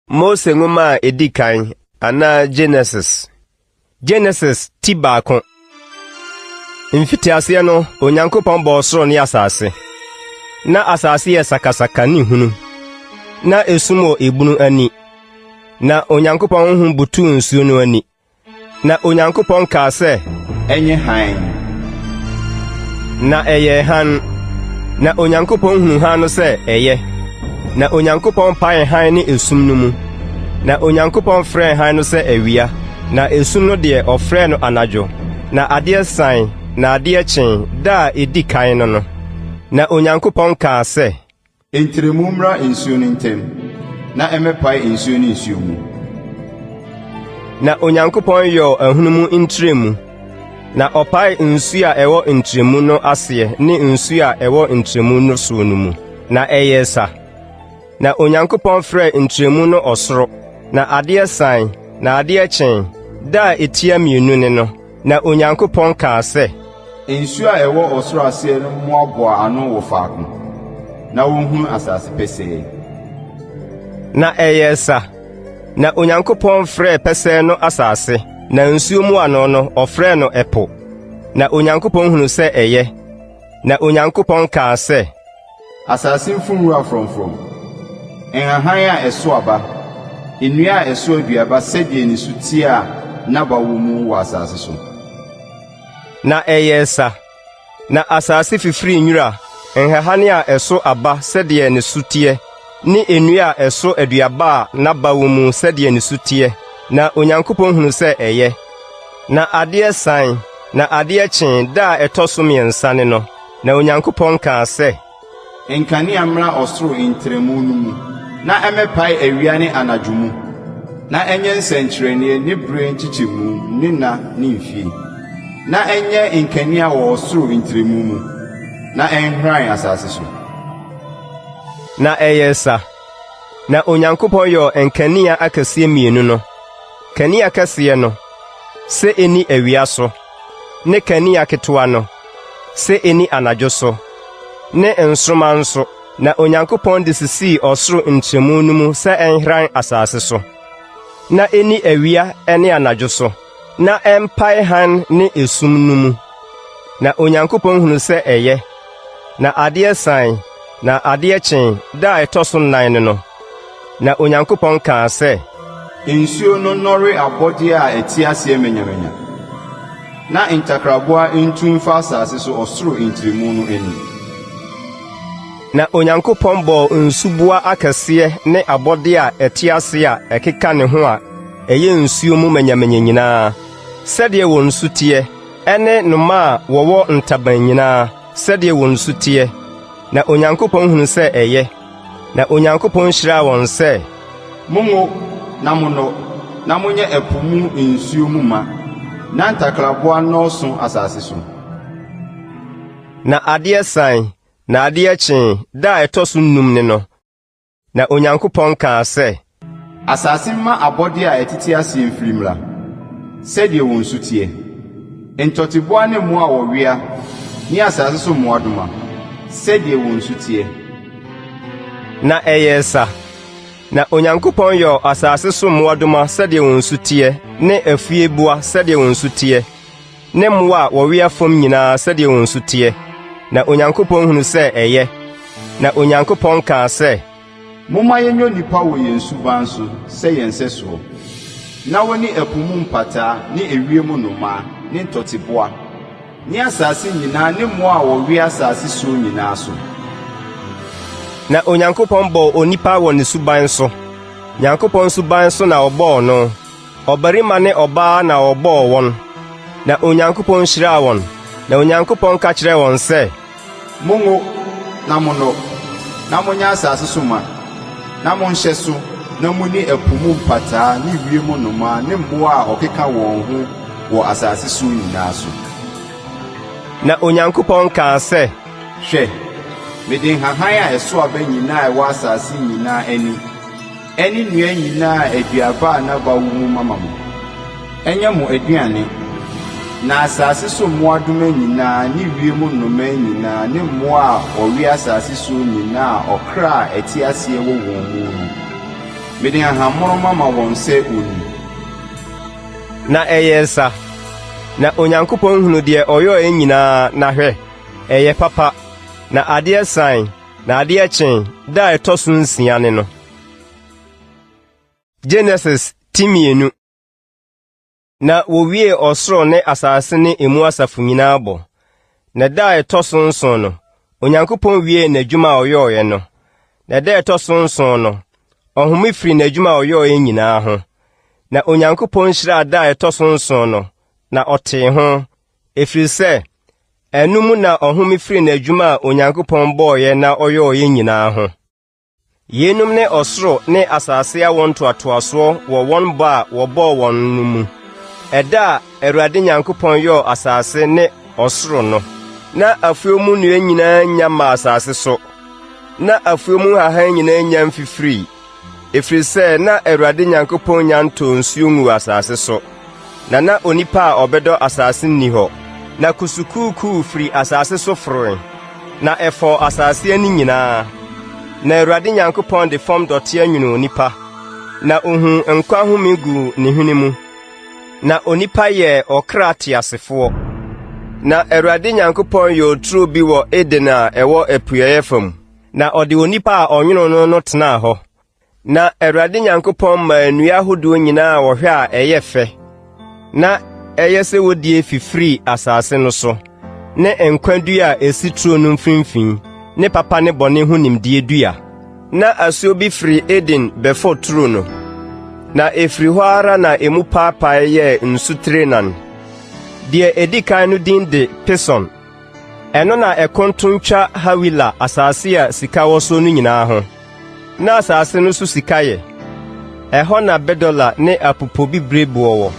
Mose nwoma a edi kan anaa Genesis. Genesis ti baako. Mfitiaseɛ no, Onyankopɔn bɔɔ soro ne asase. Na asase yɛ sakasaka ne hunu. Na esum wɔ ebunu ani. Na Onyankopɔn honhom butuu nsuo no ani. Na Onyankopɔn kaa sɛ. Ɛnyɛ hann. Na ɛyɛɛ hann. Na Onyankopɔn hunuu hann no sɛ ɛyɛ. Na Onyankopɔn paee hann ne esum no mu. Na Onyankopɔn frɛɛ hann no sɛ awia, na esum no deɛ, ɔfrɛɛ no anadwo. Na adeɛ san, na adeɛ kyee, da a ɛdi kan no no. Na Onyankopɔn kaa sɛ. Ntrɛmu mmra nsuo no ntam, na ɛmmɛpae nsuo ne nsuo mu. Na Onyankopɔn yɔɔ ahunum ntrɛmu, na ɔpaee nsuo a ɛwɔ ntrɛmu no aseɛ ne nsuo a ɛwɔ ntrɛmu no soɔ no mu, na ɛyɛɛ sa. Na Onyankopɔn frɛɛ ntrɛmu no ɔsoro. Na adeɛ sae, na adeɛ kyee, da a ɛtia mmienu ne no. Na Onyankopɔn kaa sɛ. Nsu a ɛwɔ ɔsoro aseɛ no mmoaboa ano wɔ faako, na wɔhunu asase pɛsɛɛ. Na ɛyɛɛ sa. Na Onyankopɔn frɛɛ pɛsɛɛ no asase, na nsuo mu ano no, ɔfrɛɛ no ɛpo. Na Onyankopɔn hunu sɛ ɛyɛ. Na Onyankopɔn kaa sɛ. Asase mfuw nwura frɔmfrɔm, nhahan a ɛsow aba, nnua a ɛsow aduaba sɛdeɛ ne su teɛ a n'aba wɔ mu wɔ asase so. Na ɛyɛɛ sa. Na asase fifirii nwura, nhahan a ɛsow aba sɛdeɛ ne su teɛ, ne nnua a ɛsow aduaba a n'aba wɔ mu sɛdeɛ ne su teɛ, na Onyankopɔn hunuu sɛ ɛyɛ. Na adeɛ sae, na adeɛ kyee, da a ɛtɔ so mmiɛnsa ne no. Na Onyankopɔn kaa sɛ. Nkanea mmra ɔsoro ntrɛmu no mu, na ɛmmɛpae awia ne anadwo mu, na ɛnyɛ nsɛnkyerɛnneɛ ne berɛ nkyekyɛmu ne nna ne mfie, na ɛnyɛ nkanea wɔ ɔsoro ntrɛmu mu, na ɛnhran asase so. Na ɛyɛɛ sa. Na Onyankopɔn yɔɔ nkanea akɛseɛ mmienu no, kanea kɛseɛ no sɛ ɛnni awia so, ne kanea ketewa no sɛ enni anadwo so, ne nsoromma nso, na Onyankopɔn de sisii ɔsoro ntrɛmu no mu sɛ ɛnhran asase so, na enni awia ne anadwo so, na ɛmpae hann ne esum no mu. Na Onyankopɔn hunu sɛ ɛyɛ, na adeɛ sae. Na adeɛ kyee da a ɛtɔ so nnan no no, na Onyankopɔn kaa sɛ. Nsuo no nnɔre abɔdeɛ a ɛte aseɛ manyamanya, na ntakraboa ntu mfa asase so ɔsoro ntrɛmu no anim. Na Onyankopɔn bɔɔ nsuboa akɛseɛ ne abɔdeɛ a ɛte aseɛ a ɛkeka ne ho a ɛyɛ nsuo mu manyamanya nyinaa, sɛdeɛ wɔn su teɛ, ne nnomaa a wɔwɔ ntaban nyinaa, sɛdeɛ wɔn su teɛ, na Onyankopɔn hunu sɛ ɛyɛ, na Onyankopɔn hyiraa wɔn sɛ. Monwo, na monnɔ, na monyɛ ɛpo mu nsuo mu ma, na ntakraboa nnɔɔso asase so. Na adeɛ san, na adeɛ kyee, da a ɛtɔ so nnum ne no. Na Onyankopɔn kaa sɛ. Asase mma abɔdeɛ a ɛtete aseɛ mfiri mmra, sɛdeɛ wɔn su teɛ, ntɔteboa ne mmoa a wɔwea ne asase so mmoadoma, sɛdeɛ wɔn su teɛ. Na ɛyɛɛ sa. Na Onyankopɔn yɔɔ asase so mmoadoma sɛdeɛ wɔn su teɛ ne afueboa sɛdeɛ wɔn su teɛ. ne mmoa a wɔwea fam nyinaa sɛdeɛ wɔn su teɛ. Na Onyankopɔn hunuu sɛ ɛyɛ, na Onyankopɔn kaa sɛ. Momma yɛnyɛ onipa wɔ yɛn suban so sɛ yɛn sɛsoɔ, na wɔne ɛpo mu mpataa ne ewiem nnomaa ne ntɔteboa, ne asase nyinaa ne mmoa a wɔwea asase soɔ nyinaa so. Na Onyankopɔn bɔɔ onipa wɔ ne suban so, Nyankopɔn suban so na ɔbɔɔ no. Ɔbarima ne ɔbaa na wɔbɔɔ wɔn, na Onyankopɔn hyiraa wɔn. Na Onyankopɔn ka kyerɛɛ wɔn sɛ, Monwo, na monnɔ, na monyɛ asase so ma, na monhyɛ so, na munni ɛpo mu mpataa ne wiem nnomaa ne mmoa a wɔkeka wɔn ho wɔ asase so nyinaa so. Na Onyankopɔn kaa sɛ. Hwɛ, mede nhahan a ɛsow aba nyinaa a ɛwɔ asase nyinaa ani. Ɛne nnua nyinaa a aduaba a n'aba wo mu mama mo. Ɛnyɛ mo aduane. Na asase so mmoadoma nyinaa ne wiem nnomaa nyinaa ne mmoa a wɔwe asase soɔ nyinaa a ɔkra a ɛte aseɛ wɔ wɔn mu no, mede nhahammono mama wɔn sɛ wɔnni. Na ɛyɛɛ sa. Na Onyankopɔn hunu deɛ ɔyɔɔɛ nyinaa, na hwɛ! ɛyɛ papa. Na adeɛ sae. Na adeɛ kyee da a ɛtɔ so nsia ne no. Genesis ti mmienu. Na wɔwiee ɔsoro ne asase ne emu asafo nyinaa bɔ. Na da a ɛtɔ so nson no, Onyankopɔn wiee n'adwuma a ɔyɔeɛ no. Na da a ɛtɔ so nson no, ɔhome firi n'adwuma a ɔyɔeɛ nyinaa ho. Na Onyankopɔn hyiraa da a ɛtɔ so nson no, na ɔtee ho, ɛfiri sɛ ɛno mu na ɔhome firi n'adwuma a Onyankopɔn bɔɔeɛ na ɔyɔɔeɛ nyinaa ho. Yeinom ne ɔsoro ne asase awo ntoatoasoɔ wɔ wɔn bɔ a wɔbɔɔ wɔn no mu. Ɛda a Awurade Nyankopɔn yɔɔ asase ne ɔsoro no, na afuo mu nnua nyinaa nya maa asase so, na afuo mu nhahan nyinaa nya mfifirii. Ɛfiri sɛ na Awurade Nyankopɔn nnya ntoo nsuo nguu asase so, na na onipa a ɔbɛdɔ asase nni hɔ. Na kusukuukuu firi asase so foroe, na ɛfɔɔ asase ani nyinaa. Na Awurade Nyankopɔn de fam dɔteɛ nwonoo onipa, na ɔhuu nkwa home guu ne hwene mu. Na onipa yɛɛ ɔkra teasefoɔ. Na Awurade Nyankopɔn yɔɔ turo bi wɔ Eden a ɛwɔ apueeɛ fam, Na ɔde onipa a ɔnwonoo no no tenaa hɔ. Na Awurade Nyankopɔn maa nnua ahodoɔ nyinaa a wɔhwɛ a ɛyɛ fɛ na ɛyɛ sɛ wɔdie fifirii asase no so, ne nkwa dua a ɛsi turo no mfimfini, ne papa ne bɔne ho nimdeɛ dua. Na asuo bi firi Eden bɛfɔ turo no, na ɛfiri hɔ ara na emu paapaee yɛɛ nsutire nan. Deɛ ɛdi kan no din de Pison. Ɛno na ɛko ntow ntwa Hawila asase a sika wɔ so no nyinaa ho. Ná asase no so sika yɛ. Ɛhɔ na bɛdɔla ne apopobibiri boɔ wɔ.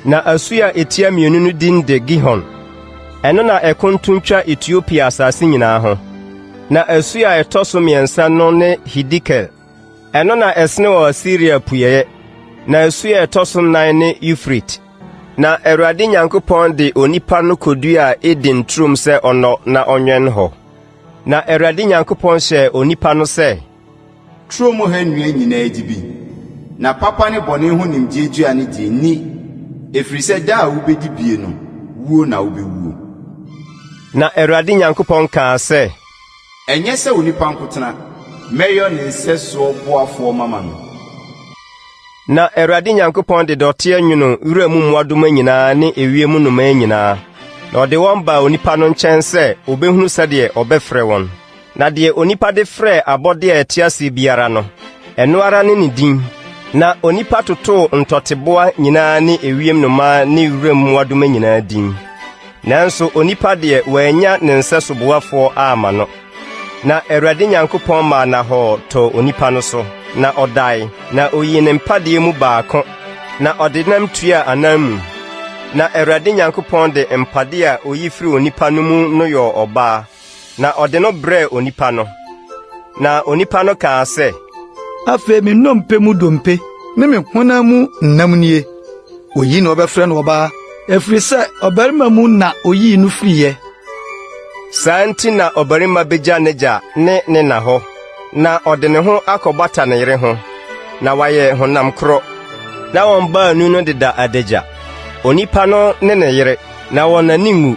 Na asu a etia mmienu no din de Gihon. Ɛno na ɛko ntow ntwa Etiopia asase nyinaa ho. Na asu a ɛtɔ so mmiɛnsa no ne Hidikel. Ɛno na ɛsene wɔ Asiria apueeɛ. Na asu a ɛtɔ so nnan ne Eufrate. Na Awurade Nyankopɔn de onipa no koduaa Eden turom sɛ ɔnnɔ na ɔnwɛn hɔ. Na Awurade Nyankopɔn hyɛɛ onipa no sɛ, Turo mu ha nnua nyinaa di bi, na papa ne bɔne ho nimdeɛ dua no deɛ, nni, ɛfiri sɛ da a wobɛdi bie no, wuo na wobɛwuo. Na Awurade Nyankopɔn kaa sɛ. Ɛnyɛ sɛ onipa nkotena. Mɛyɔ ne nsɛsoɔ boafoɔ mama no. Na Awurade Nyankopɔn de dɔteɛ nwonoo wuram mmoadoma nyinaa ne ewiem nnomaa nyinaa, na ɔde wɔn baa onipa no nkyɛn sɛ ɔbɛhunu sɛdeɛ ɔbɛfrɛ wɔn. Na deɛ onipa de frɛɛ abɔdeɛ a ɛte aseɛ biara no, ɛno ara ne ne din. Na onipa totoo ntɔteboa nyinaa ne ewiem nnomaa ne wuram mmoadoma nyinaa din. Nanso onipa deɛ, wɔannya ne nsɛso boafoɔ amma no. Na Awurade Nyankopɔn maa nnahɔɔ tɔɔ onipa no so, na ɔdae, na oyii ne mpadeɛ mu baako, na ɔde nam tuaa ananmu. Na Awurade Nyankopɔn de mpadeɛ a oyi firii onipa no mu no yɔɔ ɔbaa, na ɔde no brɛɛ onipa no. Na onipa no kaa sɛ, Afei me nnompe mu dompe ne me honam mu nnam nie. Oyi na wɔbɛfrɛ no ɔbaa, ɛfiri sɛ ɔbarima mu na oyii no firiiɛ. Saa nti na ɔbarima bɛgya n'agya ne ne na hɔ, na ɔde ne ho akɔbata ne yere ho, na wɔayɛ honam korɔ. Na wɔn baanu no deda adagya, onipa no ne ne yere, na wɔn ani nwu.